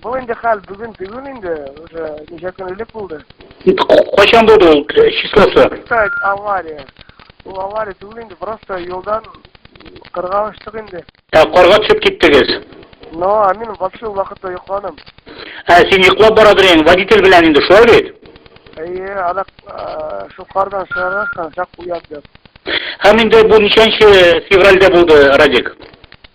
Бу инде хәл бүген түгел инде, уже ничә көн элек булды. Кайчан булды ул числосы? Так, авария. Ул авария түгел инде, просто юлдан кырга очтык инде. Ә карга төшеп киттегез? Но, а мин вообще ул вакытта йокладым. Ә син йоклап барадыр инде, водитель белән инде, шулай бит? Әйе, адак шул кардан чыгарган чак уят дип. Һәм инде бу ничәнче февральдә булды, Радик?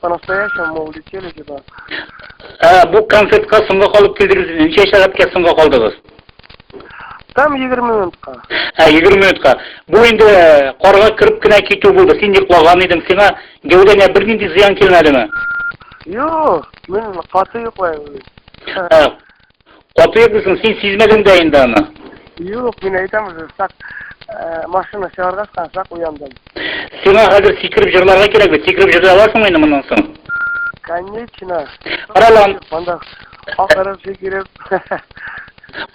По-настоящему мы улетели сюда. Ә, бу концертка соңга калып килдегез. Ничә сәгатькә соңга калдыгыз? Там 20 минутка. Ә, 20 минутка. Бу инде э, карга кереп кенә китү булды. Син йоклаган идең. Сиңа гәүдәңә бернинди зыян килмәдеме? Юк, мин каты йоклайм. Ә, Каты йөрдесең, син сизмәдең дә инде аны. Юк, мин әйтәм уже, сак э, машина чыгарга сак, сак уяндым. Сиңа хәзер сикереп җырларга кирәк бит. Сикереп җырлый аласың инде моннан соң. Конечно. Каралам. Монда акырып сикереп.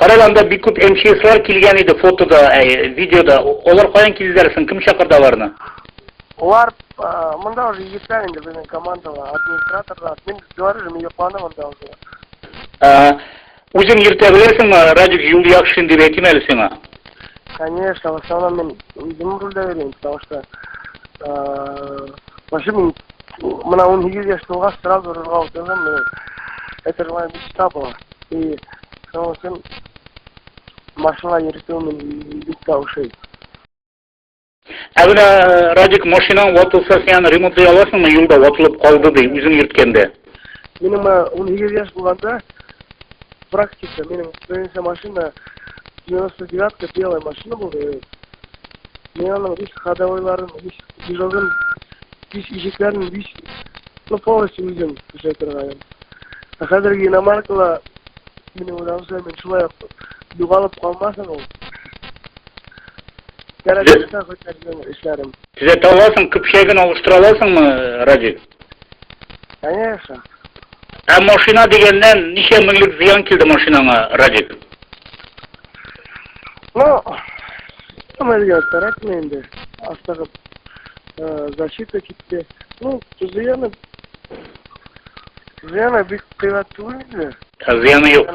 Караланда бик күп МЧСлар килгән иде фотода, әй, видеода. Алар каян килделәр соң? Кем чакырды аларны? Олар монда уже егетләр инде безнең командала, администраторлар. Мин говорю, мин йокланым монда уже. Ага. Үзең йөртә беләсеңме? Радик юл яхшын дип әйтим әле сиңа. Конечно, в основном мин үзем рульдә йөрим, потому что вообще мин мына 18 яшь тулгач сразу рульга утырдым, мин это была мечта была. И шуның өчен машина йөртү мин бик тә ошый. Ә менә Радик машинаң ватылса, син ремонтлый аласыңмы? Юлда ватылып калды ди, үзең йөрткәндә. Минем 18 яшь булганда практика, минем беренче машина 99-ка белая машина булды. Мин аның весь ходовойларын, весь дежурын, весь ишекләрен, весь ну полностью үзем эшләп торган. Ә хәзерге иномаркала минем уйлавымча, мин шулай югалып калмасын ул. Кәрәкмәсә хөкәрнең эшләрен. Төзәтә аласың, көпчәген алыштыра аласыңмы, Радик? Конечно. Ә машина дигәннән ничә меңлек зыян килде машинаңа, Радик? Ну, гамәлгә кирәкме инде? Астагы э, защита китте. Ну, зыяны Зыяны бик кыйбат түгел инде. Ә зыяны юк.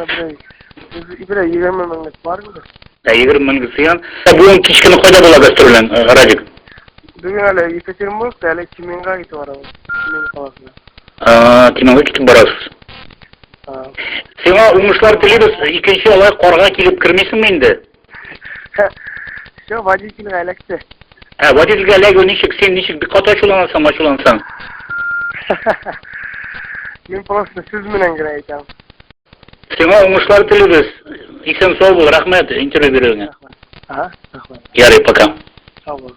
Ибрә 20 меңлек бар инде. Ә 20 меңлек зыян. Ә бүген кичкене кайда була гастрольлән, э, Радик? Бүген әле Екатеринбургта, әле Тюменьга китеп барабыз. Тюмень каласына. А, Тюменьга китеп барасыз. Сиңа уңышлар телибез. Икенче алай карга килеп кермисеңме инде? Все, водительгә эләкте. Ә водительгә эләгү ничек? Син ничек бик каты ачуланасың, ачулансаң? Мин просто сүз менән генә әйтәм. Сиңа уңышлар телибез. Исән сау бул, рәхмәт интервью бирүеңә. Ага, рәхмәт. Ярый, пока. Сау бул.